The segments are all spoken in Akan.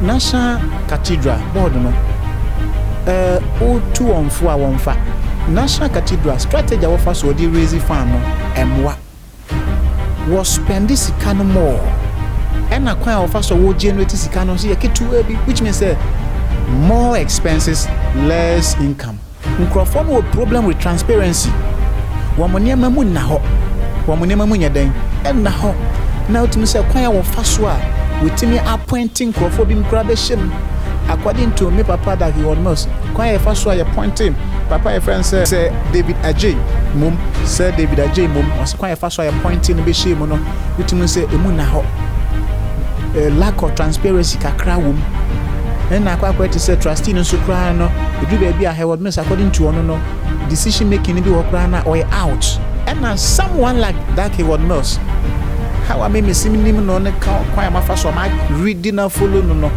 National Cathedral Board no retu wɔn fo a wɔmfa National Cathedral strategy a wɔfa so wɔde raise fund no mmoa. Wɔ spɛnde sika no more ɛna kwan a wɔfa so wɔ generate sika no nso yɛ ketewa bi which means sɛ more expenses less income. Nkurɔfoɔ no wɔ problem with transparency, wɔn nneɛma mu nna hɔ, wɔn nneɛma mu nyɛ dɛn, ɛnna hɔ, na wotumi sɛ kwan a wɔfa so a wɔtumi appointe nkurɔfoɔ binom koraa bɛhyɛ mu, according to me papa Dawie World-Mills, kwan a yɛfa so a yɛpointe papa a yɛfrɛ no sɛ Sir David Adjei mmom, Sir David Adjei mmom, wɔse kwan a yɛfa so a yɛpointe no bɛhyɛɛ mu no, wotumi sɛ ɛmu nna hɔ. lack of transparency kakra wɔ mu ɛna akɔ akɔyɛ te sɛ trustee no nso koraa no ɛduru baabi a Hereward Mills according to ɔno no decision making no bi wɔ koraa na ɔyɛ out ɛna someone like that Hereward Mills how a me mesi menim no ne ka kwan a mafa so a ma read na follow no no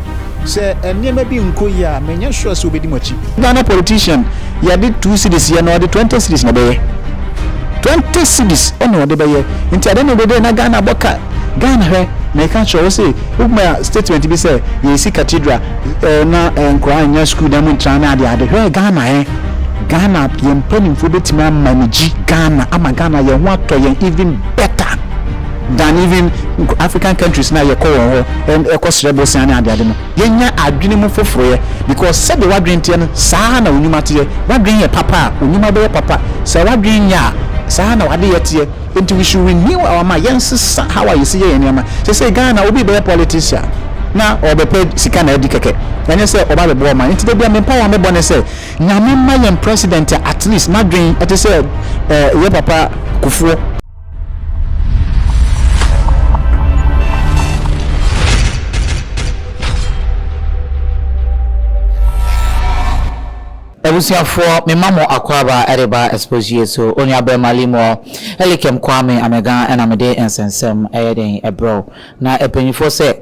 sɛ nneɛma bi nkɔ yi a menyɛ sure sɛ wobɛdi mo akyi. Ghana politician yɛde two cities yɛ na ɔde twenty cities na ɛbɛyɛ twenty cities ɛna ɔde bɛyɛ nti adɛn na ɛde dɛ na Ghana bɔ ka Ghana hwɛ, meka kyerɛ wo se woma statement bi sɛ yɛsi cathedral eh, na eh, nkoraa nnya school dan mu ntra ne ade ade, hwɛ Ghana eh, Ghana yɛn mpanimfoɔ bɛtumi ama ne gyi Ghana ama Ghana yɛn ho atɔ yɛn even better than even African countries na yɛkɔ wɔn hɔ eh, ɛkɔ srɛ bosea ne ade ade no, yɛnya adwene mu foforoyɛ because sɛdeɛ wadwene teɛ no saa ara na onwuma teɛ, wadwene yɛ papa a onwuma bɛyɛ papa, sɛ wadwene nyɛ a saa ara na wadeyɛ teɛ. Nti we should renew our mind yɛnsesa how a yɛsi yɛ yɛn nneɛma sesei Ghana obi bɛyɛ politician na ɔɔbɛpɛ sika na adi kɛkɛ ɛnyɛ sɛ ɔba abɛboa ɔman nti da bia me mpaeɛ a mebɔ ne sɛ Nyame ma yɛn president a at least n'adwen ɛte sɛ eh, yɛ papa Kufuɔ Abusuafoɔ, me ma mo akwaaba de ba Exposue so, Onuabarima Limuel Elikem Kwame Amegan na me de nsɛnsɛm yɛ dɛn brɛ wo. Na mpaninfoɔ sɛ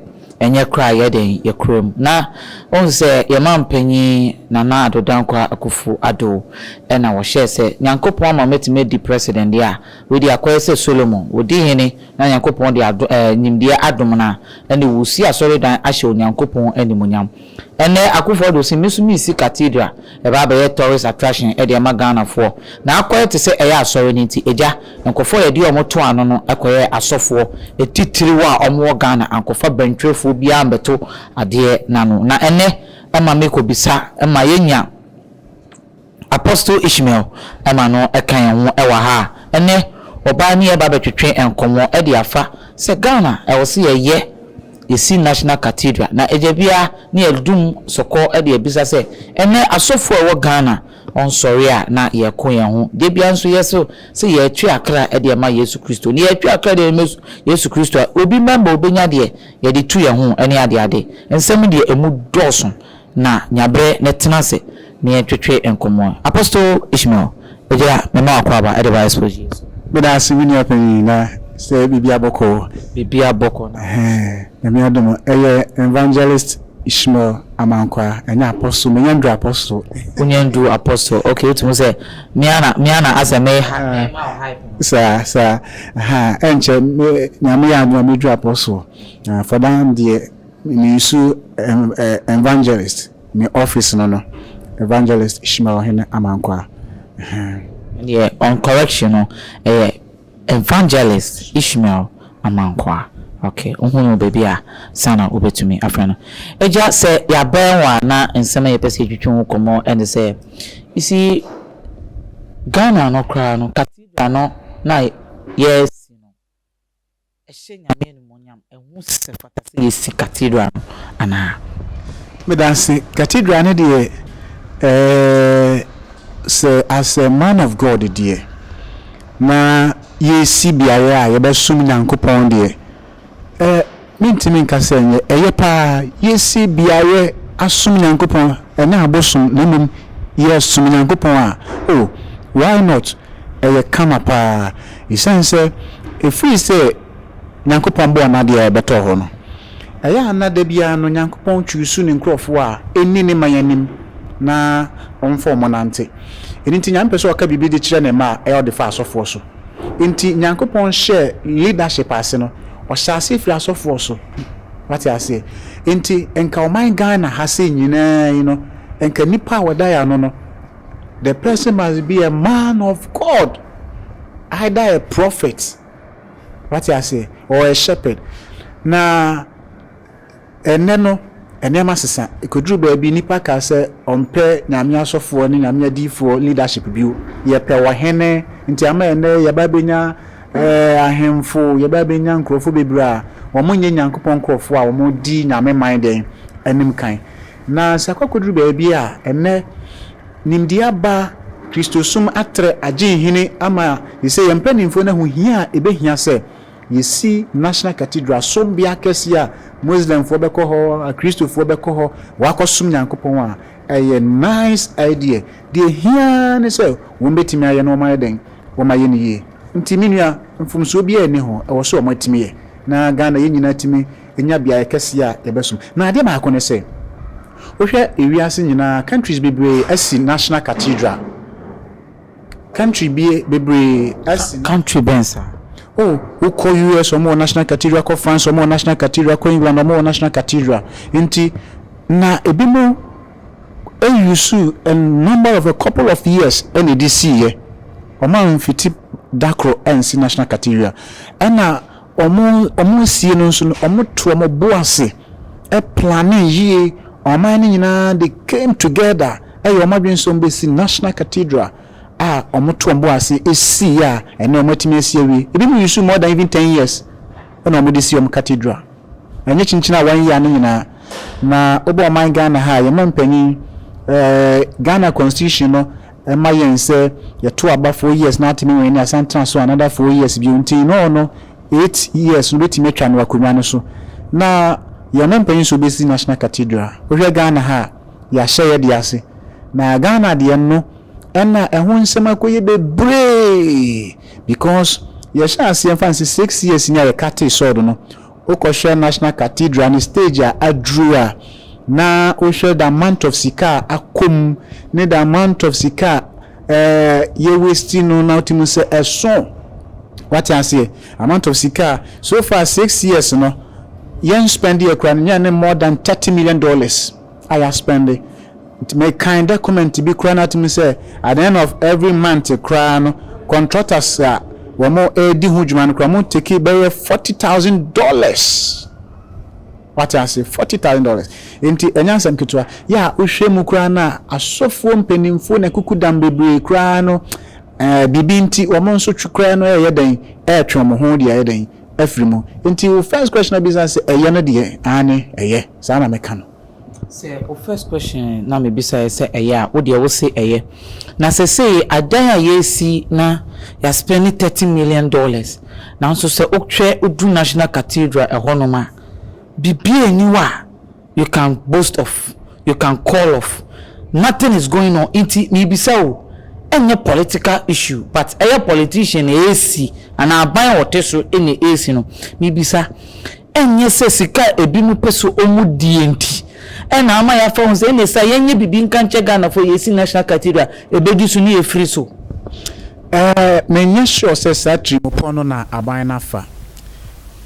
ɛnyɛ koraa yɛ dɛn yɛ kurom. Na wohu sɛ yɛ manpanin Nana Addo Dankwa Akuffo Addo na wɔhyɛɛ sɛ Nyankopɔn ama mɛtumi adi President deɛ a, wei deɛ akɔyɛ sɛ Solomon, wɔdi hene na Nyankopɔn de adom ɛɛ nimdeɛ adom no a, ɛnde wɔresi asɔredan ahyɛ Onyankopɔn animuonyam. Ɛnnɛ Akuffo Addo se me nso mesi Cathedral, ɛba abɛyɛ tourist attraction de ama Ghanafoɔ. Na akɔyɛ te sɛ ɛyɛ asɔre no nti, agya, nkurɔfoɔ a yɛde wɔn too ano no kɔyɛɛ asɔfoɔ atitiriw a wɔwɔ Ghana, ankɔfa bɛntwerɛfoɔ biara ammɛto adeɛ no ano. Na ɛnnɛ ɛma mekɔbisa ma yɛnya. Apostle Ishmael ma no ka yɛn ho wɔ ha a, ɛnnɛ ɔbaa ne yɛreba abɛtwetwe nkɔmmɔ de afa sɛ Ghana ɛwɔ sɛ yɛyɛ yɛsi National Cathedral na agya biara ne yɛdum sɔkɔ de abisa sɛ ɛnnɛ asɔfoɔ a ɛwɔ Ghana ɔnsɔre a na yɛko yɛn ho da biara nso yɛse sɛ yɛretwe akra de ama Yesu Kristo na yɛretwe akra de ama Yesu Kristo a obi mɛma ɔbɛnya deɛ yɛde tu yɛn ho ne adeade nsɛm deɛ ɛmu dɔɔso na nya bere na tena ase na yɛntwetwe nkɔmmɔ. Apostle Ishmael, Egyira, mema wo akwaaba de ba Expo GA so. Meda ase me nua panyin, na sɛ biribia bɔkɔɔ. Biribia bɔkɔɔ na wo nso. Nyame adom o, ɛyɛ Evangelist Ishmael Amankwah, ɛnyɛ Apostle, manya nduru Apostle. Wonya nduru Apostle, ok, wotumi hu sɛ me ara na, me ara na asɛ me hype, me ma wo hype no. Saa, saa, ahaa, ɛnkyɛ me, nea meyɛ ara no na meduru Apostle, ahaa, for now deɛ. Mesu Evangelist me office no no Evangelist Shimaohene Amankwah eh. Deɛ on correction no ɛyɛ Evangelist Ishmael Amankwah ok wohunu no baabi a sa na wobɛtumi afrɛ no Agya sɛ yɛabɛn wo a na nsɛm a yɛpɛ sɛ yɛtwitwi ho nkɔmmɔ ɛne sɛ you see Ghana no koraa no cathedral no na yɛresi no ɛhyɛ Nyame animuonyam, ɛho si sɛ ɛfata sɛ yɛsi Cathedral no anaa? Medase, Cathedral no deɛ ɛɛɛ sɛ as a man of God deɛ, na yɛresi beaeɛ a yɛbɛsom Nyankopɔn deɛ, ɛ mentumi nka sɛ ɛnyɛ, ɛyɛ paa, yɛsi beaeɛ asom Nyankopɔn, ɛnyɛ abosom na mmom yɛsom Nyankopɔn a, oh, why not? ɛyɛ kama paa esiane sɛ ɛfiri sɛ Nyankopɔn bɔɔ n'adeɛ a ɛbɛtɔ hɔ no, ɛyɛ a na da biara no Nyankopɔn chuusu ne nkurɔfoɔ a ɛnni ne man anim na ɔmfa wɔn nante. Ɛno nti Nyame pɛ sɛ ɔka biribi de kyerɛ ne mma a, ɛyɛ a ɔde fa asɔfoɔ so. Nti Nyankopɔn hyɛɛ leadership ase no, ɔhyɛɛ aseɛ firi asɔfoɔ so. Wate aseɛ? Nti nka ɔman Ghana ha sei nyinaa yi no, nka nnipa a wɔda yɛ ano no, the person must be a man of God either a prophet wate aseɛ or a shepherd na ɛnɛ no nneɛma sesa ɛkɔduru baabi nipa ka sɛ ɔmpɛ nyame asɔfoɔ ne nyame adiifoɔ leadership bio yɛpɛ ɔhene nti ama ɛnɛ yɛba bɛnya eh, ahemfo yɛba bɛnya nkurɔfoɔ bebree a wɔn nyɛ nyankopɔn nkurɔfoɔ a wɔn di nyame man dɛn anim kan Na sɛ akɔkɔduru baabi a ɛnnɛ nimdeɛ aba, Kristosom atrɛ agye nhini ama seesei yɛn mpanimfoɔ no ahu hia a ɛbɛhia sɛ yɛsi National Cathedral, sombea kɛseɛ a Muslimfoɔ bɛkɔ hɔ, Akristofoɔ bɛkɔ hɔ wɔakɔsom Nyankopɔn a, ɛyɛ nice idea. Deɛ ɛhia ara ne sɛ wɔbɛtumi ayɛ na wɔayɛ dɛn? Wɔayɛ no yie. Nti me nua, mfomsoɔ biara nni ho, ɛwɔ sɛ wɔatumi yɛ na Ghana yɛn nyinaa tumi. nya beaeɛ kɛseɛ a yɛbɛsom. Na adeɛ baako ne sɛ, wohwɛ ewiase nyinaa, countries bebree asi national cathedral. Country bi bebree asi. Country bɛn saa? Oh, wokɔ US wɔn wɔ national cathedral, kɔ France wɔn wɔ national cathedral, kɔ England wɔn wɔ national cathedral. Nti na ebi mo use a number of a couple of years ɛna ɛde siiɛ. Wɔn amfiti da koro ansi national cathedral. Ɛna. Wɔn wɔn sie no nso no, wɔto wɔn bo ase plane yie. Ɔman no nyinaa they came together ɛyɛ wɔn adwene sɛ wɔbɛsi National Cathedral a wɔto wɔn bo ase sii a ɛnnɛ wɔatumi asi awie. Ebinom use more than even ten years na wɔde si wɔn cathedral. Ɛnyɛ kyinkyin a one year no nyinaa. Na wobɔ ɔman Ghana ha a, yɛn mma mpanyin, eh, Ghana constitution no ɛma yɛn sɛ yɛto aba four years na atene wɛn ani asan tena so another four years bio nti in all no eight years no bɛtumi atwa no akonnwa no so na yɛn mo mpanyin so bɛsi National Cathedral wohwɛ Ghana ha a yɛahyɛ yɛde ase na Ghana deɛ no ɛna ɛho nsɛm akɔyɛ bebree because yɛhyɛ aseɛ mfa nse six years ni a yɛkatee sɔɔdo no Wokɔhwɛ National Cathedral no stage a aduru a, na wohwɛ the amount of sika a akɔ mu ne the amount of sika a ɛɛ yɛ waste no na wotumi hu sɛ ɛso. Wate aseɛ? Amount of sika a so far six years no yɛn spend yɛ koraa no nyɛ ne more than thirty million dollars. a yɛaspɛnde. Nti mekan dɔkɔmɛnt bi koraa na ato mu sɛ at the end of every month koraa no kɔntrɔtas a wɔredi ho dwuma no koraa wɔteki bɛyɛ forty thousand dollars. Wate ase? Forty thousand dollars. Nti ɛnyɛ asɛm ketewa. Yɛ a wohwɛ mu koraa no a asɔfoɔ mpanimfoɔ na kukudam bebree koraa no ɛɛ biribi nti wɔn nso twe koraa no ɛreyɛ dɛn ɛretwe wɔn ho de ayɛ dɛn afiri mu. Nti wo first question a bisa sɛ ɛyɛ no deɛ aane ɛyɛ saa na mɛka no. Sɛ wo first question na me bisaɛ sɛ ɛyɛ a wo deɛ wo se ɛyɛ na sɛsei adan a yɛresi na yɛ spɛne thirty million dollars nanso sɛ wo hwɛ wo duru national cathedral ɛhɔ nom a biribiaa nni hɔ a You can boast of, you can call of, nothing is going on nti mebisa o, ɛnyɛ political issue but ɛyɛ politician na ɛresi anaa aban a ɔte so na ɛresi no, mebisa ɛnyɛ sɛ sika a ɛbinom pɛ sɛ wɔdie nti na ama yɛafa ho sɛ ɛneɛ sɛ yɛnyɛ biribi nka nkyɛ Ghanafoɔ yɛsi National Cathedral ɛbɛdi so ne yɛfiri so? Ɛɛ, menyɛ sure sɛ saa tirimupɔ no na aban no afa.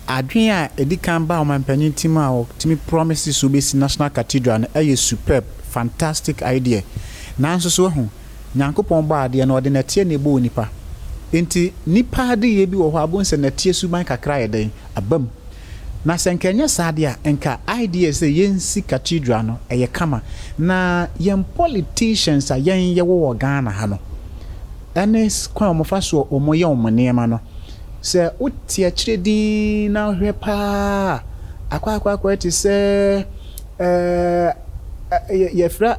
Adwene a ɛdi kan baa ɔmanpanyin tirim a ɔtumi promise sɛ obesi National Cathedral no yɛ superb, fantastic idea. Nanso so wahu? Nyankopɔn bɔɔ adeɛ no ɔde nɛteɛ na ɛbɔɔ nipa. Enti nipa adeyɛ bi wɔ hɔ a wobɛhu sɛ nɛteɛ suban kakra ayɛ dɛn? Aba mu. Na sɛ nka ɛnyɛ saa deɛ a, nka idea sɛ yɛnsi Cathedral no ɛyɛ kama. Na yɛn politicians a yɛn yɛwɔ wɔ Ghana ha no, ɛne kwan a wɔfa soɔ wɔyɛ wɔn nneɛma no, Sɛ wote akyire dinn na wohwɛ paa a, akwaakwaakwaa te sɛ ɛɛ yɛfrɛ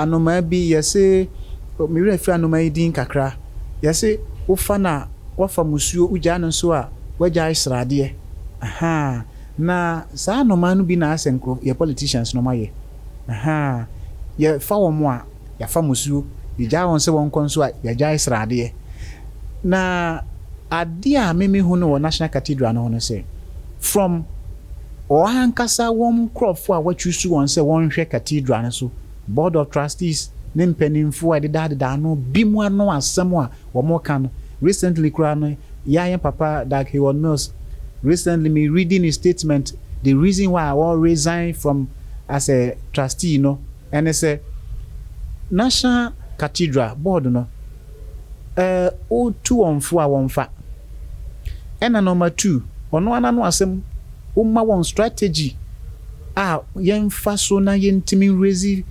anomaa bi yɛse me werɛ afiri anomaa yi din kakra yɛse wofa no a woafa musuo wogyae no nso a woagyae sradeɛ ahaa na saa anomaa no bi na asɛ nkurɔfoɔ yɛ politicians no wɔayɛ ahaa yɛfa wɔn a. yɛafa mo suo, yɛgyaa wɔn sɛ wɔnkɔ nso a, yɛagyae sradeɛ. Na adeɛ a me mehu no wɔ National Cathedral no ho no sɛ, from wɔn ankasa wɔn nkorɔfoɔ a wɔachuusu wɔn sɛ wɔnhwɛ Cathedral no so, Board of Trustees ne mpaninfoɔ a ɛdedadeda ano, binom ano asɛm a wɔka no, recently koraa no, yɛa yɛn papa Dag Heward-Mills, recently me reading his statement, the reason why ɔresign from as a Trustee no, Ɛne sɛ, National Cathedral Board no tu wɔn fo a wɔmfa. Ɛna number two, ɔno ara n'ano asɛm, womma wɔn strategy a yɛmfa so na yɛntumi nrezi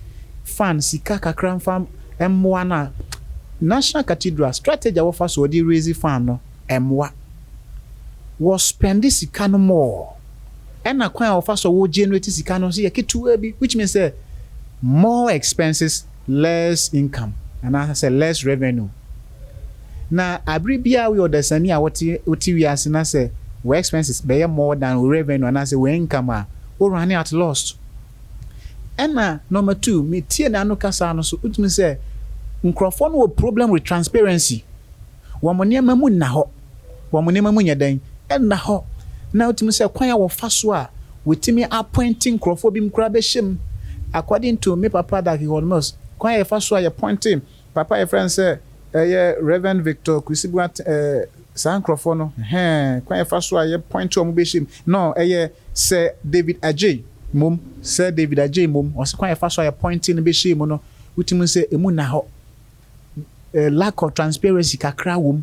fund sika kakra mfa mmoa no a, National Cathedral strategy a wɔfa so wɔde rezi fund no, ɛmmoa. Wɔ spɛnde sika no more ɛna kwan a wɔfa so wɔ generate sika no nso yɛ ketewaa bi which means sɛ more expenses less income anaa sɛ less revenue. Na abere biara woyɛ ɔdasani a wote wote wiase na sɛ wo expenses bɛyɛ more than wo revenue anaa sɛ wo income a wo running at lost. Ɛna number two me tie n'ano kasaa no so wotumi sɛ nkorɔfoɔ no wɔ problem with transparency. wɔn nneɛma mu nna hɔ, wɔn nneɛma mu nyɛ dɛn? Ɛnna hɔ. Na wotumi sɛ kwan a wɔfa so a wɔtumi apɔinte nkurɔfoɔ binom koraa bɛhyɛ mu. According to me papa Darky Horne-Mills, kwan a yɛfa so a yɛpɔinte papa a yɛfrɛ no sɛ ɛyɛ Rev. Victor Kwesi Boateng eh, saa nkurɔfoɔ no, hɛn, kwan a yɛfa so a yɛpɔinte wɔn bɛhyɛ mu no, ɛyɛ Sir David Adjei mmom, Sir David Adjei mmom, ɔse kwan a yɛfa so a yɛpɔinte no bɛhyɛ mu no, wotumi sɛ ɛmu nna hɔ. lack of transparency kakra wɔ mu.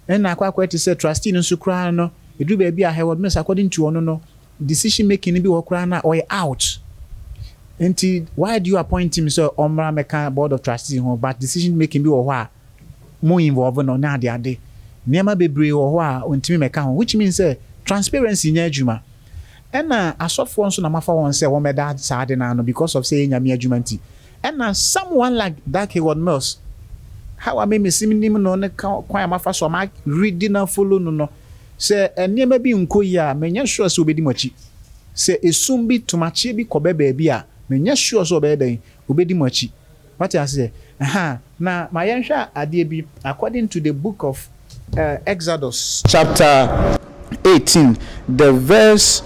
Ɛna akɔ akɔyɛ te sɛ trustee no nso koraa no, ɛduru baabi a Hereward Mills according to ɔno no, decision making no bi wɔ hɔ koraa no a ɔyɛ out. Nti why do you appoint him sɛ ɔmmra mmɛka board of trustees ho but decision making bi wɔ hɔ a mo involve no ne ade ade. Nneɛma bebree wɔ hɔ a ɔntumi mmɛka ho which means sɛ transparency nyɛ adwuma. Ɛna asɔfoɔ nso na moafa wɔn sɛ wɔmmɛda saa ade no ano because of sɛ ɛyɛ Nyame adwuma nti. Ɛna someone like that Hayward Mills, how a me mesi nim no ne kwan a mafa so a ma readi na follow no no, sɛ nneɛma bi nkɔ yie a, menyɛ sure sɛ ɔbɛdi mo akyi. Sɛ esum bi, tomakyeɛ bi kɔbɛ baabi a, menyɛ sure sɛ ɔbɛyɛ dɛn? Ɔbɛdi mo akyi. Wate aseɛ? Ɛhaa, na ma yɛnhwɛ adeɛ bi, according to the book of. Exodus chapter eighteen the verse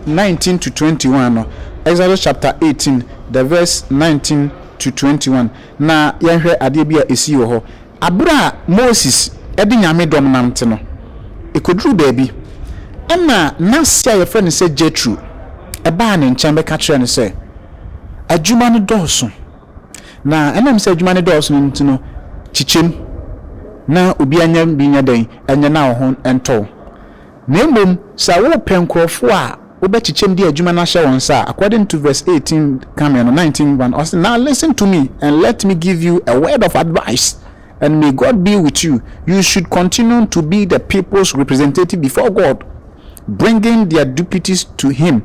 nineteen to twenty one no Exodus chapter eighteen the verse nineteen to twenty one na yɛnhwɛ adeɛ bi a esii wɔ hɔ abere a Moses de Nyame dɔm nante no ekoduru baabi ɛna nase a yɛfrɛ no sɛ Jethro ɛbaa ne nkyɛn bɛka kyerɛɛ no sɛ adwuma no dɔɔso. Na ɛnam sɛ adwuma no dɔɔso no nti no, kyekyem na obiara nyɛ bi nyɛ dɛn nyɛ na wo ho ntɔ wo. Na mmom sɛ wopɛ nkurɔfo a wobɛkyekyem de adwuma no ahyɛ wɔn nsa a, according to verse eighteen kame no, nineteen one, ɔse, Now listen to me, and let me give you a word of advice, and may God be with you, you should continue to be the people's representative before God, bringing their deputies to Him.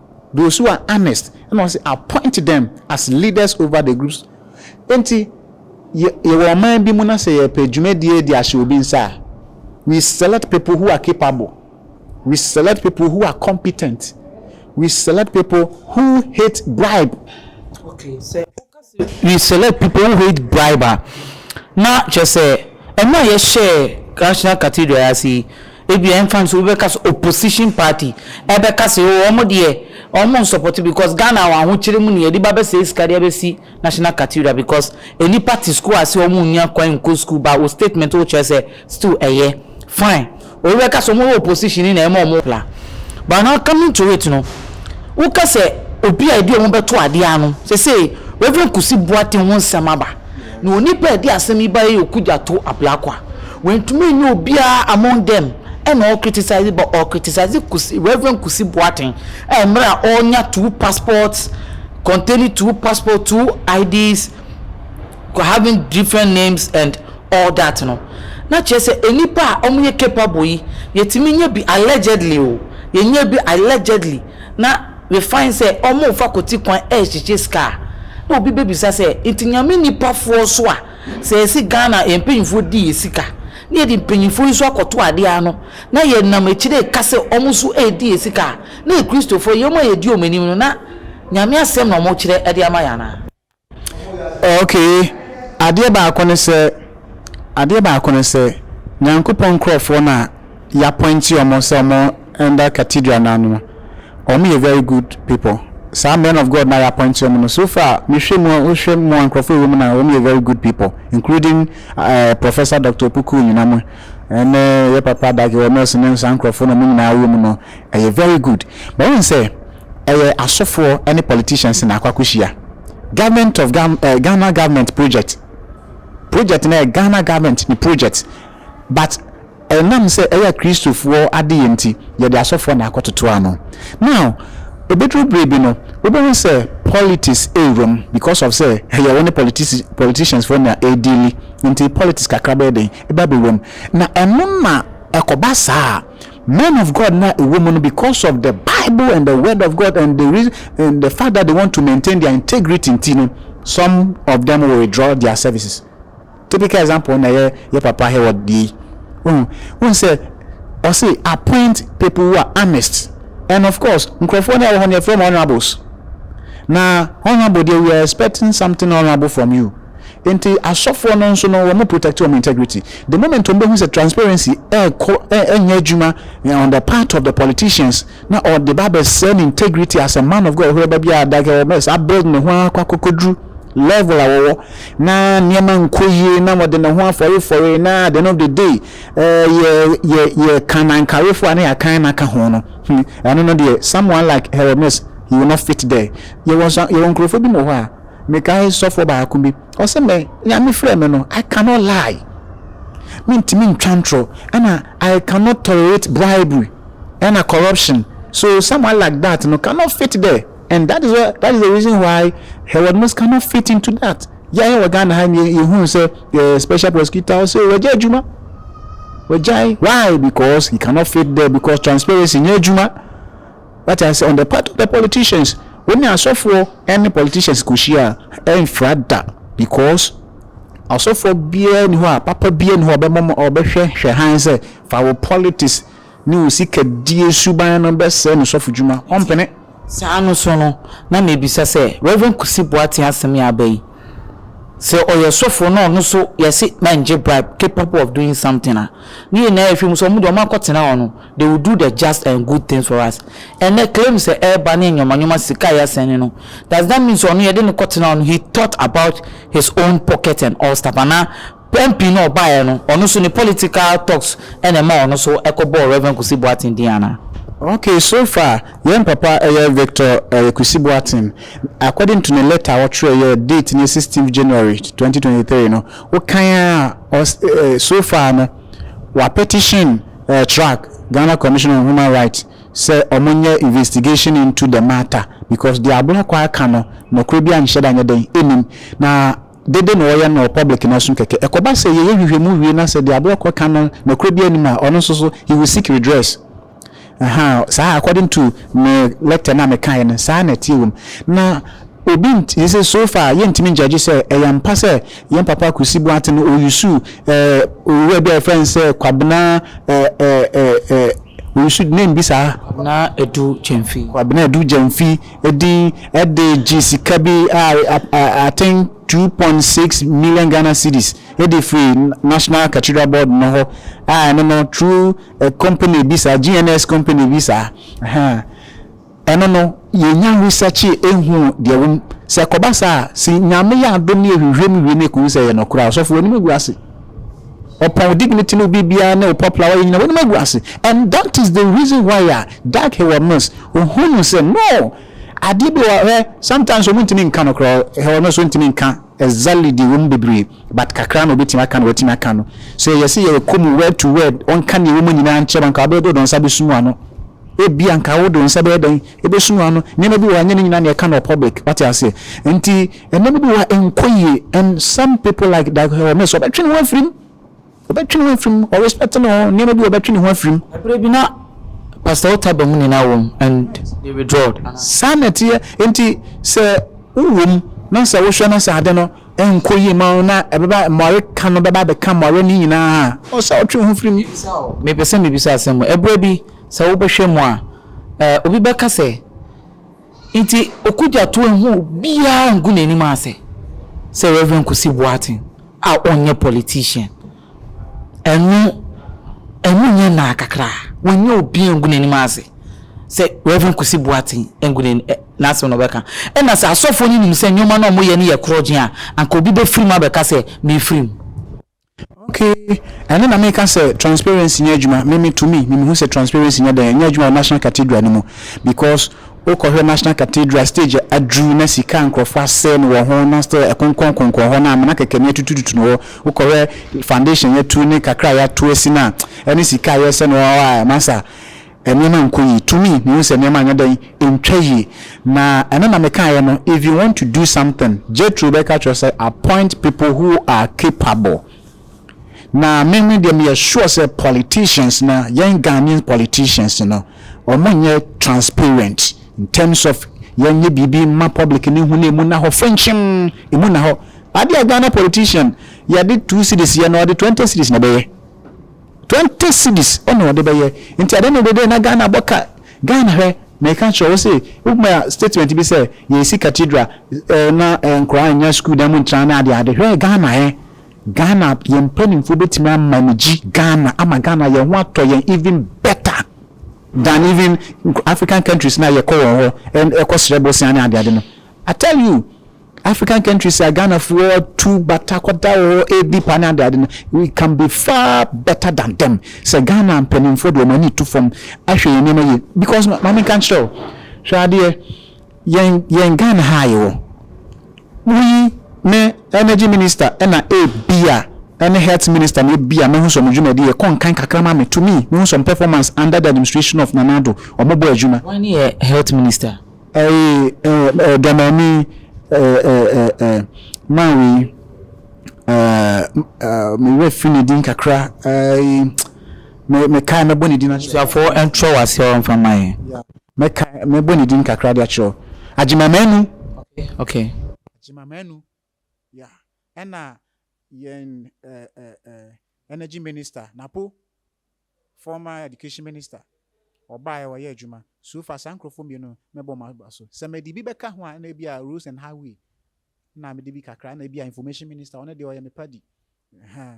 Those who are honest, ɛna ɔse appoint them as leaders over the groups. Enti yɛ yɛwɔ ɔman bi mu na sɛ yɛpɛ dwumadie de ahyɛ obi nsa a, we select people who are capable, we select people who are competent, we select people who hate bribe. Okay, sɛ we select people who hate bribe a, na kyerɛ sɛ ɛno a yɛhyɛɛ National Cathedral ase yi, ebia ɛmfa nso wobɛka sɛ opposition party ɛbɛka sɛ oo wɔn deɛ wɔn nsɔpɔte because Ghana wɔn ahokyere mu na yɛde ba bɛsɛe sika de abɛsi National Cathedral because nnipa te sukuu ase a wɔnnya kwan nkɔ sukuu but wo statement wokyerɛ sɛ Still ɛyɛ. Fine. Obi bɛka sɛ ɔmo wɔ position yi na ɛma ɔmo pla. But now coming to it no, wo ka sɛ obi a ebi a ɔmo bɛto adeɛ ano, sesei Rev. Kusi Boateng ho nsɛm aba, na onipa a ɛde asɛm yi baeɛ yɛ Okudjato Ablakwa. Wantumi annya obiara among them ɛna ɔcriticize but ɔcriticize Kusi, Rev. Kusi Boateng a mmerɛ a ɔnya two passports, containing two passports, two IDs, having different names and all that no na kyerɛ sɛ nnipa a wɔyɛ capable yi yɛtumi nya bi allegedly o yɛnya bi allegedly na we find sɛ wɔn fa kɔti kwan ɛrekyekye sika a na obi bɛbisa sɛ nti nyame nnipafoɔ so a sɛ yɛsi Ghana yɛn mpanyinfoɔ di yɛ sika na yɛde mpanyinfoɔ yi so akɔto adeɛ ano na yɛnam akyire ka sɛ wɔn so ɛredi yɛ sika a na yɛ kristofoɔ yɛn a yɛdi wɔn anim no na nyame asɛm na wɔkyerɛ ɛde ama yɛn anaa. Okay, adeɛ baako ne sɛ, adeɛ baako ne sɛ, Nyankopɔn nkorɔfoɔ na yɛapɔinte wɔn sɛ wɔn ɛnda cathedral no ano no, wɔn yɛ very good people. Saa men of God na yɛapɔinte wɔn no, so far mehwɛ mu a, wohwɛ mu a nkorɔfoɔ ɛwɔ mu no a, wɔn yɛ very good people, including uh, Professor Dr. Opoku nyina mo, ɛne yɛ papa Dake Wɔmɛs ne saa nkorɔfoɔ no, wɔn nyinaa wɔ mu no, ɛyɛ very good. But wɔn sɛ, Ɛyɛ asofoɔ ne politicians na akɔ akɔhyia. Government of Ghana eh, Ghana government project. Project no yɛ Ghana government ne project. But ɛnam sɛ ɛyɛ Kristofoɔ adeyɛ nti, yɛde asɔfoɔ na akɔtoto ano. Now, ɛbɛduru berɛ bi no, wobɛhu sɛ politics ɛrewura mu because of sɛ ɛyɛ wo ne politici politicians foɔ na ɛredili nti politics kakra bɛyɛ den ɛba bɛwura mu. Na ɛno na ɛkɔba saa a, Men of God no a ɛwɔ mu no because of the bible and the word of God and the reason and the fact that they want to maintain their integrity nti no some of them will withdraw their services typical example na yɛ yɛ papa Hayward deɛ yi ohun ohun sɛ ɔse appoint people who are honest and of course nkurɔfoɔ no a ɛwɔ hɔ no yɛfrɛ mu honourables na honourable deɛ we are expecting something honourable from you. Nti asɔfoɔ no nso no wɔn protect wɔn integrity the moment wɔn bɛhu sɛ transparency ɛɛkɔ ɛɛnyɛ adwuma on the part of the politicians na ɔde ba abɛsɛɛ ne integrity as a man of God hwerɛ ba bi a dake ɔbɛ saa build ne ho ara kɔ akɔkɔduru level a wɔwɔ na nneɛma nkɔ yie na wɔde ne ho afɔrefɔre na at the end of the day ɛɛ yɛ yɛ yɛ kanankarefoɔ a na yɛakan na aka ho no hmm ɛno no deɛ someone like Hermes he will not fit there yɛwɔ nsa yɛwɔ nkurɔfoɔ bi mu wɔ hɔ a Mekae sɔfoɔ baako bi, ɔse me, Nyame frɛɛ me no, I cannot lie, mentumi ntwa ntorɔ, ɛna I cannot tolerate bribery ɛna corruption, so someone like that no cannot fit there, and that is what, that is the reason why Herewardmus cannot fit into that. Yɛa yɛwɔ Ghana ha yi, yɛhuu sɛ eh, special prosecutor ɔse wagya adwuma, wagyae, why? Because he cannot fit there, because transparency nyɛ adwuma. Wate ase? On the part of the politicians, wo ne asɔfoɔ ne politicians kɔhyia a, ɛmfra da because ɔsɔfoɔ biara nni hɔ a, papa biara nni hɔ a ɔbɛma mo, ɔbɛhwɛ hwɛ hann sɛ fa wo politics ne wo sikadie suban no bɛsɛe no sɔfodwuma. Ɔmpene. Saa no so no, na mebisa sɛ, Rev. Kwesi Boateng asɛm yi a aba yi, sɛ ɔyɛ sɔfoɔ na ɔno nso yɛse na ngye bribe, capable of doing something a, ne nyinaa firi mu sɛ wɔn deɛ wɔakɔtena hɔ no, they will do the just and good things for us ɛnɛ claim sɛ ɛreba ne nneɛma nneɛma sika a yɛasɛn ne no does that mean sɛ ɔno yɛde no kɔtena hɔ no he thought about his own pocket and all stuff anaa MP no ɔbaeɛ no ɔno so ne political talks ɛna ɛma ɔno so ɛkɔbɔɔ Rev Kwesi Boateng din anaa. Okay so far yɛn papa ɛyɛ Victor ɛyɛ Kwesi Boateng according to ne letter a ɔtwerɛ yɛ date no yɛ sixteenth January twenty twenty three no wokan a ɔs ɛɛ so far no wapetition Track Ghana Commission on Human Rights sɛ ɔmo nyɛ investigation into the matter because deɛ Ablakwa ɛka no nɔkorɛ biara nhyɛ da nyɛ dɛn ɛnim na dede na ɔyɛ no wɔ public no asom kɛkɛ ɛkɔba sɛ yɛyɛ nhwehwɛmu wie na sɛ deɛ Ablakwa ka no nɔkorɛ biara nnim a ɔno nso so he will seek redress ahaa saa according to me lecture no a mekaeɛ no saa na ɛteɛ wɔ mu na obi nti sɛ so far yɛntumi ngyagye sɛ ɛyɛ ampa sɛ Yɛn papa Kwesi Boateng no ɔyusu eh owura bi a yɛfrɛ no sɛ Kwabena eh eh eh eh ɔyusu name bi saa. Kwabena Adu Gyamfi. Kwabena Adu Gyamfi din de gye sika bi a I think two point six million Ghana cedis de firi National Cathedral Board no hɔ a ɛno no through a company bi saa GNS company bi saa ahaa. Ɛno no, yenya researchee ehuu deɛ ɛwom. Sɛ ɛkɔba saa a, se Nyame yɛ adom ne yɛhwehwɛm wie ne yɛkohu sɛ ɛyɛ nɔkorɛ a, ɔsɔfo, w'anim agu ase. Ɔpɔn wo dignity ne wo biribiara ne wo popular wayɛ nyina, w'anim agu ase. And that is the reason why a Doug Heward-Mills, ohunu sɛ, no, adeɛ bi wɔ hɔ a, hwɛ, sometimes wɔntumi nka no koraa, Heward-Mills, wontumi nka, Exactly deɛ ɛwɔ mu bebree but kakra na ɔbɛtumi aka na watumi aka no. Sɛ yɛse yɛyɛ kɔmu word to word ɔnka deɛ ɛwɔ mu nyinaa nkyerɛ wo anka wobɛyɛ dɛn wode wo nsa bɛsum wo ano? Ebia anka wode wo nsa bɛyɛ dɛn? Ɛbɛsum wo ano. Nneɛma bi wɔ hɔ a ɛnyɛ ne nyinaa na yɛka no wɔ public wate aseɛ. Nti nneɛma bi wɔ hɔ a ɛnkɔ yie and some people like Daakye Hamiso ɔbɛtwe ne ho afiri mu. Ɔbɛtwe ne ho afiri mu, ɔ respect ne ho, nneɛma bi wɔ ɔbɛtwe ne ho afiri mu. Ɛberɛ bi na Pastor Otai Bamuni na wɔ mu and they withdrawed. Saa na ɛteɛ, enti sɛ wo wɔ mu na sɛ wo hwɛ na sɛ ade no nkɔ yie ma wo na ɛbɛba mmoawe ka no bɛba abɛka mmoawe no nyinaa a, ɔ sɛ wotwe wo ho firi mu. Mebisa o, mepɛ sɛ mebisa asɛm o, ɛberɛ bi sɛ wo bɛhwɛ mu a, eh, obi bɛka sɛ. Enti Okudzato ennhu obiara nngu n'enyim ase sɛ Rev. Kwesi Boateng a ɔnnyɛ politician. Ɛno, ɛno nnyɛ naa kakra. Wɔnnyɛ obiara nngu n'enyim ase sɛ Rev. Kwesi Boateng nngu n'enyim ɛ, n'asɛm na ɔbɛka. Nna sɛ asɔfoɔ no nyim sɛ nneɛma no a wɔyɛ no yɛ korɔgyenn a, anka obi bɛfiri mu abɛka sɛ, Mefiri mu. Okay, ɛno na meka sɛ transparency nyɛ adwuma. Me me to me, me mehu sɛ transparency nyɛ dɛn, ɛnyɛ adwuma wɔ National Cathedral no mu because wokɔhwɛ National Cathedral stage a aduru na sika a nkurɔfoɔ asɛe no wɔ ho na still ɛkonkɔn konkɔn hɔ na amena kɛkɛ no yɛatutututu no hɔ. Wokɔhwɛ foundation yɛatu ne kakra a yɛato asi no a ɛne sika a yɛsɛ no hɔ a masa nneɛma nkɔ yie. To me, mehu sɛ nneɛma anyɛ dɛn? Ɛntwa yie. Na ɛno na mekaeɛ no, if you want to do something, Jethro bɛka akyerɛ wo sɛ, appoint people who are capable. Na me me deɛ meyɛ sure sɛ politicians no, yɛn Ghanaian politicians no, wɔnyɛ transparent in terms of yɛnyɛ biribi mma public no nhu na ɛmu nna hɔ frenkyem, ɛmu nna hɔ. Adeɛ a Ghana politician yɛde two cedis yɛ no, ɔde twenty cedis na ɛbɛyɛ. Twenty cedis na ɔde bɛyɛ nti adeɛ no dede na Ghana bɔ ka Ghana hwɛ meka kyerɛ wo se wo ma statement bi sɛ yɛsi cathedral eh na eh nkoraa nnya school dan mu ntra ne ade ade hwɛ Ghana eh Ghana yɛn mpaninfoɔ bɛtumi a manage Ghana ama Ghana yɛn ho atɔ yɛn even better than even African countries no a yɛkɔ wɔn hɔ eh kɔ srɛ bosea ne ade ade no I tell you African countries a Ghanafoɔ tu bata kɔda wɔ hɔ ɛredi pa ne adeade no, we can be far better than them. Sɛ Ghana mpanimfoɔ de wɔn ani to fam ahwɛ yɛn nneɛma yie because ma me nka nkyerɛ wo hwɛ adeɛ yɛn yɛn Ghana ha a yɛwɔ woyi ne energy minister ɛna ebi a ɛne health minister na ebi a mehu sɛ wɔn dwumadi yɛ kɔ nkan kakra ma me to me mehu sɛ wɔn performance under the administration of Nana Addo wɔn bɔ adwuma. Wɔn ne yɛ health minister. Ae eh eh Dramani eh eh eh eh Man wei eh eh me werɛ firi ne din kakra ae me me kae mɛbɔ ne din akyerɛ. Abusuafoɔ ɛntwerɛ wɔ aseɛ ɔmfa ma yɛn. Yeah me kae mɛbɔ ne din kakra de akyerɛ. Agyemamanu. Okay okay. Agyemamanu. Yeah, ɛna yɛn eh eh eh energy minister napo former education minister ɔbaeɛ ɔyɛ adwuma so far saa nkorɔfoɔ mmienu mɛbɔ wɔn aba so sɛ mɛde bi bɛka ho a ɛna ebi a roads and highway ɛna mede bi kakra ɛna ebi a information minister ɔno deɛ ɔyɛ me padi Ɛhɛɛ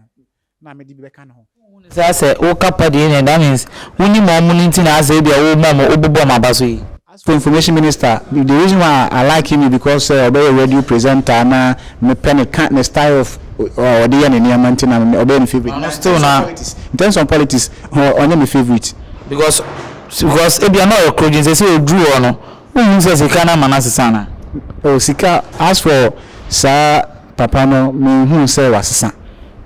na mede bi bɛka ne ho. Wonhu no saa sɛ woka pa deɛ ɛneɛ that means wonim wɔn no nti na asɛ ebia woma wɔn wobubu wɔn aba so yi. As for information minister, the reason why I like him is because sɛ ɔbɛyɛ radio presenter na me pɛ ne ka ne style of a ɔde yɛ ne nneɛma nti na me ɔbɛyɛ me favourite na still na in terms of politics ɔ ɔnyɛ me favourite. Because because ebia na ɔyɛ korogyen sɛsɛ ɔduru hɔ no wonhu sɛ sika no ama no asesa anaa. Oh sika as for saa. Papa no menhuu sɛ wasesa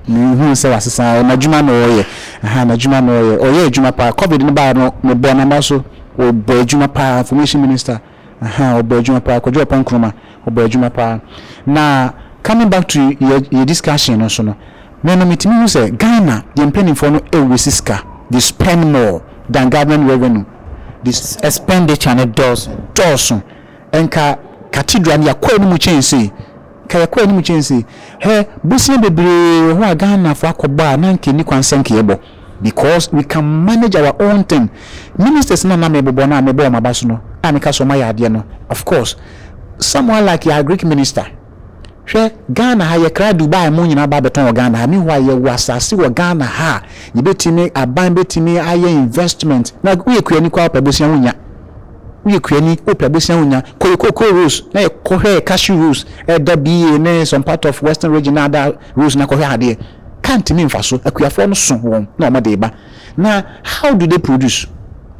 menhuu sɛ wasesa ɛ n'adwuma na ɔyɛ ahaa n'adwuma na ɔyɛ ɔyɛ adwuma paa covid no baeɛ no mebɔɔ n'aba so ɔbɔ adwuma paa information minister ahaa ɔbɔ adwuma paa Kwadwo Ɔpɔn Nkrumah ɔbɔ adwuma paa na coming back to yɛ yɛ discussion no so no me no metumi hu sɛ Ghana yɛn mpanimfoɔ no ɛwesi sika they spend more than government revenue they spend expenditure no dɔɔso dɔɔso. Nka Cathedral no yɛakɔ anim kyɛn sei, nka yɛkɔ anim kyɛn sei. Hwɛ bosea bebree wɔ hɔ a Ghanafo akɔbɔ a na anka enni kwan sɛ anka yɛbɔ because we can manage our own thing. Ministers no a na mebobɔ no a mebɔ wɔn aba so no a meka sɛ wɔayɛ adeɛ no, of course some are like yɛn Agric minister. Hwɛ Ghana ha yɛkra Dubai mo nyinaa ba bɛtɔn wɔ Ghana ha meanwhile yɛwɔ asase wɔ Ghana ha a yɛbɛtumi aban bɛtumi ayɛ investment na woyɛ kuani koraa wopɛ bosea wonya woyɛ kuani wopɛ bosea wonya kɔ yɛ cocoa rose na yɛ kɔhwɛ yɛ cashew rose ɛda BA ne some part of western region na ada rose na kɔhwɛ adeɛ ka ntimi mfa so akuafoɔ no so wɔn na wɔn de ba Na how do they produce?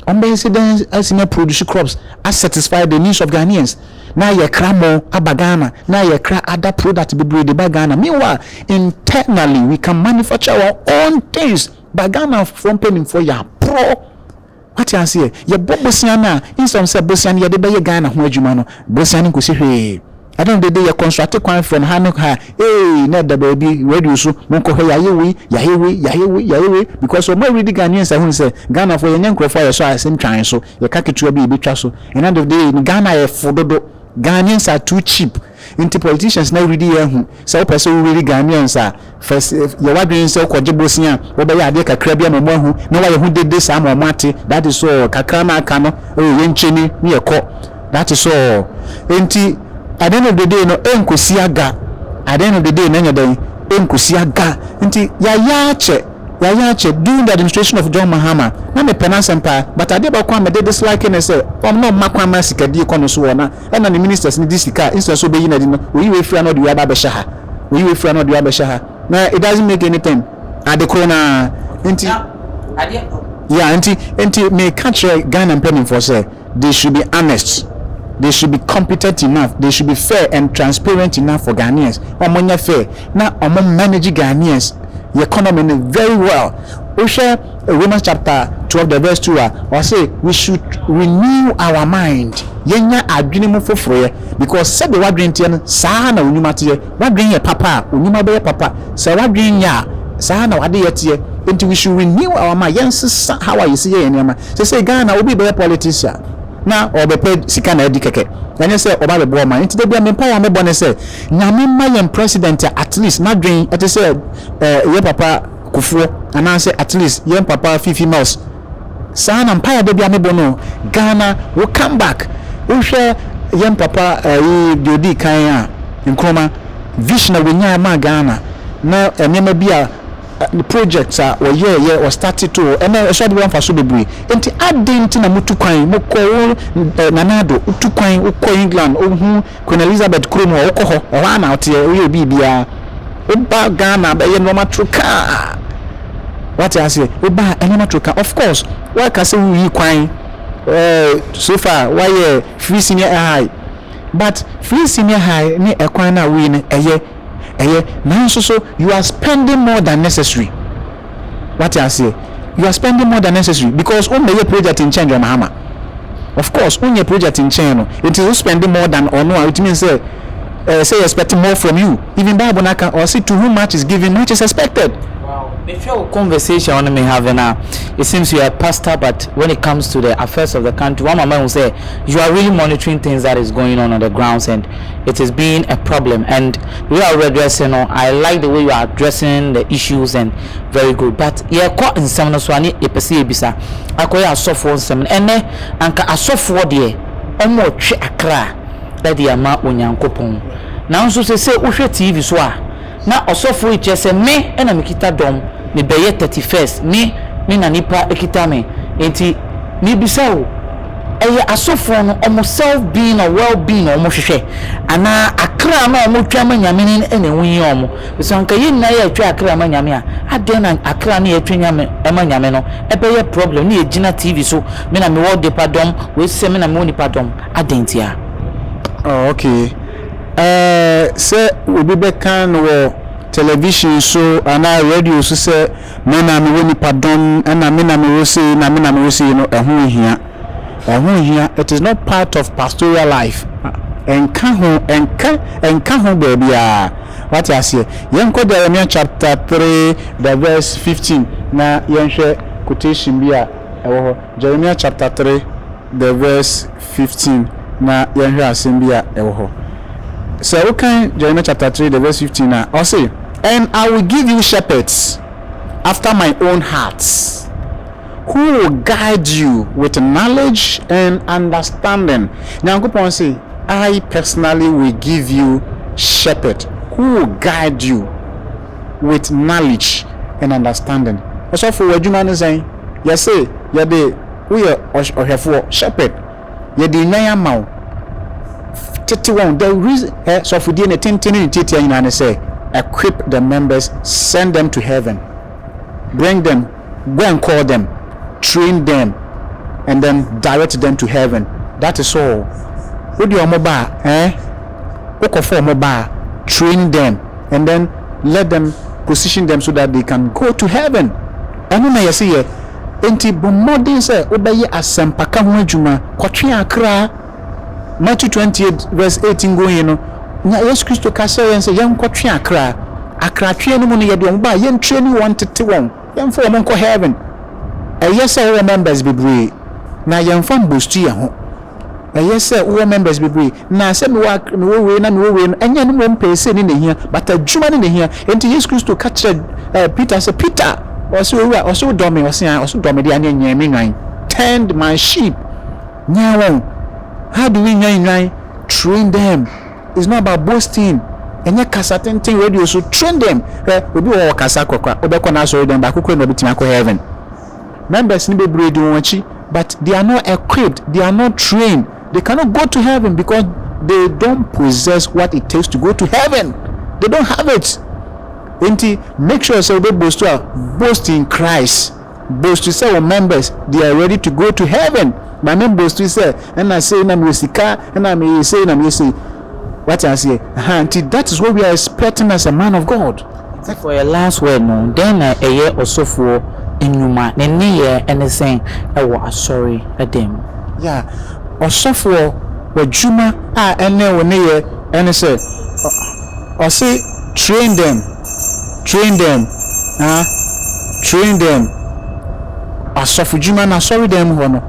Ɔmo bɛyɛ sɛ dɛn asimi a produce crops a satisfy the needs of Ghanaians na yɛ kra mo aba Ghana na yɛ kra other product bebree de ba Ghana meanwhile internally we can manufacture our own things but Ghana foɔ mpaninfoɔ yɛ aporɔ wate aseɛ yɛ bɔ bosea no a instead of sɛ bosea no yɛde bɛyɛ Ghana ho adwuma no bosea no nkosi hwee. Ɛda no dede yɛ kɔnsoate kwan frɛ no ha ne ha ee na ɛda baabi radio so monkɔ hwɛ yɛayɛ wei yɛayɛ wei yɛayɛ wei yɛayɛ wei because ɔmo a redi Ghanaians ahunu sɛ Ghanafoɔ yɛnyɛ nkorɔfoɔ a yɛsɔ asɛm twa yɛn so yɛka ketewa bi a yɛbɛtwa so ɛna dede no Ghana yɛ fo dodo Ghanaians are too cheap nti politicians no redi yɛn ahu Sɛ wopɛ sɛ wowiri Ghanaians a, fa si yɛ w'adwene sɛ wokɔgye bosea a, wobɛyɛ adeɛ kakra bi ama wɔahu na woayɛ ho dede saa ama wɔate. That is all. Kakra no a aka no, oh, yɛnkyini na yɛkɔ. That is all. Enti, at the end of the day no, ɛnkɔsi aga. At the end of the day no, ɛnyɛ dɛn? Ɛnkɔsi aga. Nti, yɛayɛ akyɛ. Yɛayɛ akyɛ. During the administration of John Mahama, na mepɛ n'asɛm paa, but adeɛ baako a mede dislike ne sɛ, ɔm na ɔmma kwan ma sikadie kɔ ne so wɔ na. Ɛna ne ministers no di sika a instead sɛ ɔbɛyi no adi no ɔyi wei firi ha na ɔde wei aba abɛhyɛ ha, ɔyi wei firi ha na ɔde wei abɛhyɛ ha na it doesn't make any thing ade koro no ara nti yeah nti nti meka kyerɛ Ghana mpanimfoɔ sɛ they should be honest they should be competent enough they should be fair and transparent enough for Ghanaians wɔn nyɛ fair na wɔn manage Ghanaians economy no very well wohwɛ Romans chapter twelve the verse two a, ɔse we should renew our mind, yɛnya adwene mu foforoeɛ because sɛdeɛ w'adwene teɛ no saa ara na wo nnwuma teɛ, w'adwene yɛ papa a, wo nnwuma bɛyɛ papa, sɛ w'adwene nyɛ a saa ara na w'adeyɛ teɛ, enti we should renew our mind, yɛnsesa how a yɛsi yɛ yɛn nneɛma. Seesei Ghana obi rebɛyɛ politician na ɔrebɛpɛ sika na adi kɛkɛ, ɛnyɛ sɛ ɔba abɛboa ɔman, enti da biara me mpaeɛ a mebɔ ne sɛ Nyame mma yɛn president a at least n'adwene te sɛ yɛn papa kofoɔ anaasɛ at least yɛn papa fifi nurse saa na mpaeɛ da bi a mebɔ no Ghana wo come back wohwɛ yɛn papa ɛyi eh, deɛ odi kan a Nkrumah vision a wɔnyaa maa Ghana na nneɛma bi a eh, project a wɔyɛɛ yɛ wɔstarte to hɔ ɛnɛ ɛso abɛba mfaso bebree nti aden nti na motu kwan mokɔ wo eh, nanaado wotu kwan wokɔ England wohu Queen Elizabeth kurom hɔ, wokɔ hɔ, ɛhɔ ara na woteɛ, woyɛ biribiara. Woba Ghana bɛyɛ nneɛma trokaa. Wate aseɛ? Woba nneɛma trokaa. Of course, woaka sɛ woyi kwan. Eh, so far, woayɛ free senior high. But free senior high ne ɛkwan no a woyi no, ɛyɛ. Ɛyɛ, nanso so you are spending more than necessary? Wate aseɛ? You are spending more than necessary because wommɛyɛ project nkyɛn John Mahama. Of course, wonyɛ project nkyɛn no, nti wo spending more than ɔno a, it means sɛ ɛɛ sɛ yɛ expect more from you. Even Bible no aka, ɔse to whom much is given, much is expected. Wow, mehwɛ wo conversation a wo ne me have no a, it seems you are a pastor but when it comes to the affairs of the country, woama mahu sɛ you are really monitoring things that is going on on the grounds and it is being a problem and the way a wo redress no I like the way you are addressing the issues and very good but yɛkɔ nsɛm no so a ne yɛpɛ sɛ yɛbisa akɔyɛ asɔfoɔ nsɛm no ɛnɛ anka asɔfoɔ deɛ wɔn retwe akra ɛde ama Onyankopɔn nanso sɛ sɛ wohwɛ TV so a Na ɔsɔfo yi kyerɛ sɛ me na mekita dɔm, mebɛyɛ thirty first, me ne na nipa kita me, enti mebisa wo, ɛyɛ asɔfoɔ no wɔn self being or well being na wɔn hwehwɛ, anaa akra no a wɔn twa ma Nyame no na ɛho hia wɔn, because anka yɛn nyinaa yɛ twa akra ma Nyame a, adɛn na akra no yɛ twa ma Nyame no ɛbɛyɛ problem na yɛ gyina TV so me na mewɔ nipa dɔm, wei sɛ me na mewɔ nipa dɔm, adɛn ntia? Oh okay. Ɛɛ sɛ obi bɛka no wɔ television so anaa radio so sɛ me na mewɔ nipadɔm ɛna me na mewɔ sei na me na mewɔ sei no, ɛho nhia. Ɛho nhia. It is not part of pastoral life. Ɛnka ho, ɛnka, ɛnka ho baabiara. Wate aseɛ? Yɛnkɔ Jeremiah chapter 3 the verse 15 na yɛnhwɛ quotation bi a ɛwɔ hɔ. Jeremiah chapter 3. the verse fifteen na yɛn hwɛ asɛm bi a ɛwɔ hɔ. Sɛ wokan Jeremiah chapter three the verse fifteen a, ɔse, And I will give you shepherds after my own heart, who will guide you with knowledge and understanding. Nyankopɔn se, I personally will give you shepherd who will guide you with knowledge and understanding. Ɔsɔfo, w'adwuma ne sɛn? Yɛse, yɛde. Woyɛ ɔhwɛfoɔ, shepherd, Yɛde nnwan ama wo, tete wɔn, the reason, hwɛ, sɔfodie ne tenten ne ne tiatia nyinaa ne sɛ, equip the members, send them to heaven, bring them, go and call them, train them, and then direct them to heaven, that is all. Wode wɔn ba a, eh, wokɔfa wɔn ba a, train them, and then. let them position them so that they can go to heaven ɛno na yɛse yɛ enti bɔ mmɔden sɛ wobɛyɛ asɛmpaka ho adwuma kɔtwe akra Matthew 28 verse 18 going no nya Yesu Kristo ka kyerɛ yɛn sɛ yɛnkɔtwe akra akratweɛ no mu no yɛde wɔn ba a yɛntrɛni wɔn tete wɔn Yɛnfa wɔn nkɔ heaven. Ɛyɛ sɛ wowɔ members bebree na yɛnfa mbostu yɛn ho. Ɛyɛ sɛ wowɔ members bebree na sɛ mewɔ ak mewɔ wei na mewɔ wei no ɛnyɛ ɛno mmom pɛɛ sei ne na ɛhia but adwuma ne na ɛhia. Enti Yesu Kristo ka kyerɛ ɛɛ Peter sɛ Peter ɔse Owura ɔse wodɔ me ɔse ae ɔse wodɔ me deɛ aneɛ nyɛn me nnwan tend my sheep nyɛn wɔn how do we nyɛn nnwan train them. is not about boasting ɛnyɛ kasa tenten radio so train them hwɛ obi wɔ hɔ ɔkasa kɔkora wobɛkɔ n'asɔre dɛm baako kura na ɔbɛtumi akɔ heaven members no bebree di wɔn akyi but they are not equipped they are not trained they cannot go to heaven because they don't possess what it takes to go to heaven they don't have it nti make sure sɛ wobɛ boast a boast in Christ. boast sɛ wo members they are ready to go to heaven ba me boast sɛ ɛna sei na mewɔ sika ɛna meyɛ sei na meyɛ sei wate aseɛ ha nti that is what we are expecting as a man of God. Sɛ for yɛ last word no dɛn na ɛyɛ ɔsɔfoɔ nnwuma ne nneyɛɛ ne sɛn wɔ asɔre dan mu. Yeah ɔsɔfoɔ w'adwuma a ɛne wo nneyɛɛ ne sɛ ɔse train them. Train them, ah, train them. Asɔfodwuma no asɔredan mu hɔ no,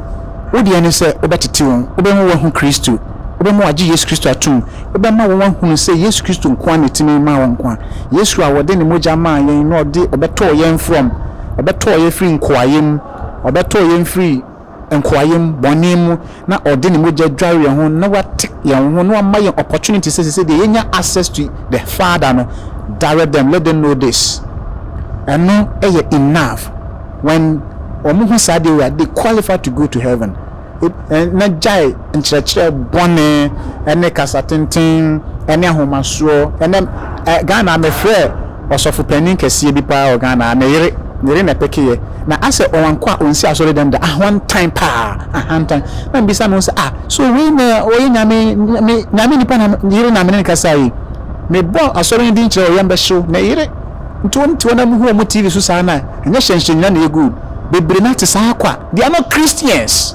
wo deɛ ne sɛ wobɛtete wɔn, wobɛma wɔahu Kristo, wobɛma wɔagye Yesu Kristo atom, wobɛma wɔn ahunu sɛ Yesu Kristo nko ara na ɛtumi ma wɔn nkwa, Yesu a ɔde ne mogya maa yɛn na ɔde ɔbɛtɔɔ yɛn from, ɔbɛtɔɔ yɛn firi nkoayɛ mu, ɔbɛtɔɔ yɛn firi. nkoayɛm, bɔne mu, na ɔde ne mogya dware yɛn ho na wate yɛn ho na wama yɛn opportunity sɛ sese deɛ yɛnya access to the father no direct them let them know this ɛno yɛ enough when wɔn ho saa deɛ wei a they qualify to go to heaven na gyae nkyerɛkyerɛ bɔne ne kasa tenten ne ahomasoɔ ne Ghana mefrɛɛ ɔsɔfo panin kɛseɛ bi paa wɔ Ghana ha, ne yere, ne yere na ɛpekeeɛ na asɛ ɔwankɔ a ɔnsi asɔredɛm da, ahantan paa, ahantan, na mebisa me ho sɛ ah so wei na ɔyɛ Nyame, me Nyame nipa na yere na mene no kasa yi, mebɔ asɔre no din kyerɛ ɔyam bɛhyew, ne yere, nti wɔn nti wɔn na muhu wɔn TV so saa na ɛnyɛ hyɛnhyɛn nyina na ɛyɛ good, bebree no ate saa kwa, they are not Christians.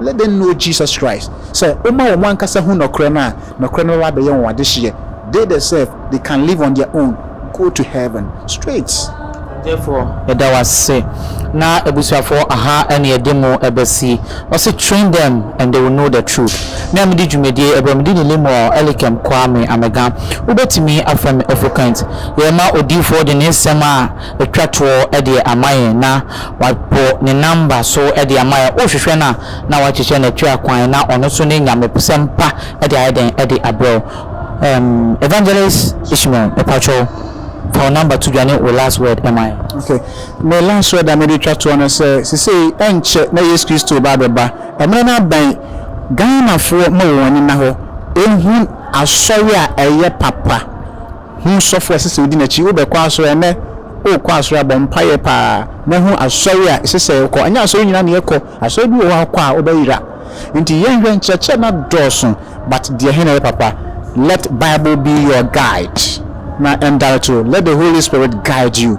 Let them know Jesus Christ, sɛ woma wɔn ankasa hu nɔkorɛ no a, nɔkorɛ no bɛba abɛyɛ wɔn adehyeɛ, they the self, they can live on their own, go to heaven, straight. Ɔdɛfoɔ yɛda wo ase na abusuafoɔ aha ne yɛde mo bɛsi ɔse train them and they will know the truth me a medi dwumadie ɛberɛ mede ne Lemuel Elikem Kwame Amega wobɛtumi afrɛ me Ofukent yɛrema odiyifoɔ de ne nsɛm a ɛtwa toɔ deɛ ama yɛn na Wapo ne number so de ama yɛn. Wohwehwɛ no a, na wakyekyɛ no atwa kwan na ɔno nso ne nyamesɛm pa de ayɛ dɛn de abrɛ wo. Ɛm, Evangelist Ishmael, mepakyɛw, fa wo number to dwa ne wo last word ma yɛn. Ok. Me last word a mede retwa toɔ ne sɛ, sesei ɛnkyɛ na Yesu Kristo reba abɛba. Mmerɛ no abɛn. Ghanafoɔ ma wɔn ani nna hɔ, ɛhu Asɔre a ɛyɛ papa. Hom sɔfo a ɛsɛ sɛ odi n'ekyir, wobɛkɔ asɔr a, ndɛ ookɔ asɔr a, bɔ mpae paa na hu asɔr a ɛsɛ sɛ ekɔ. Nnyɛ asɔr nyina na yɛkɔ, asɔr bi wɔ hɔ a ekɔ a wobɛyera. Ntsi yɛnhwɛ, nkyerɛkyerɛ no adɔɔso but deɛ he na ɛyɛ papa? Let Bible be your guide na ndarto let the Holy Spirit guide you.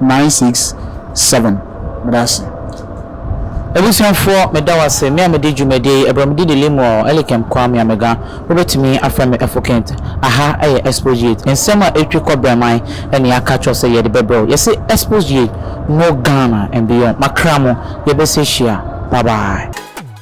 Nine six seven meda ase. Abusuafoɔ meda wase me a medi dwumadie yi ɛberɛ medi ne Lemuel Elikem Kwame Amega wobɛtumi afrɛ me Efokent aha yɛ Exposuate nsɛm a ɛtwi kɔ Brɛman na yɛaka akyerɛ wo sɛ yɛde bɛbrɛ wo yɛse Exposuate no Ghana and beyond makra mo yɛbɛsɛ hyia bye bye.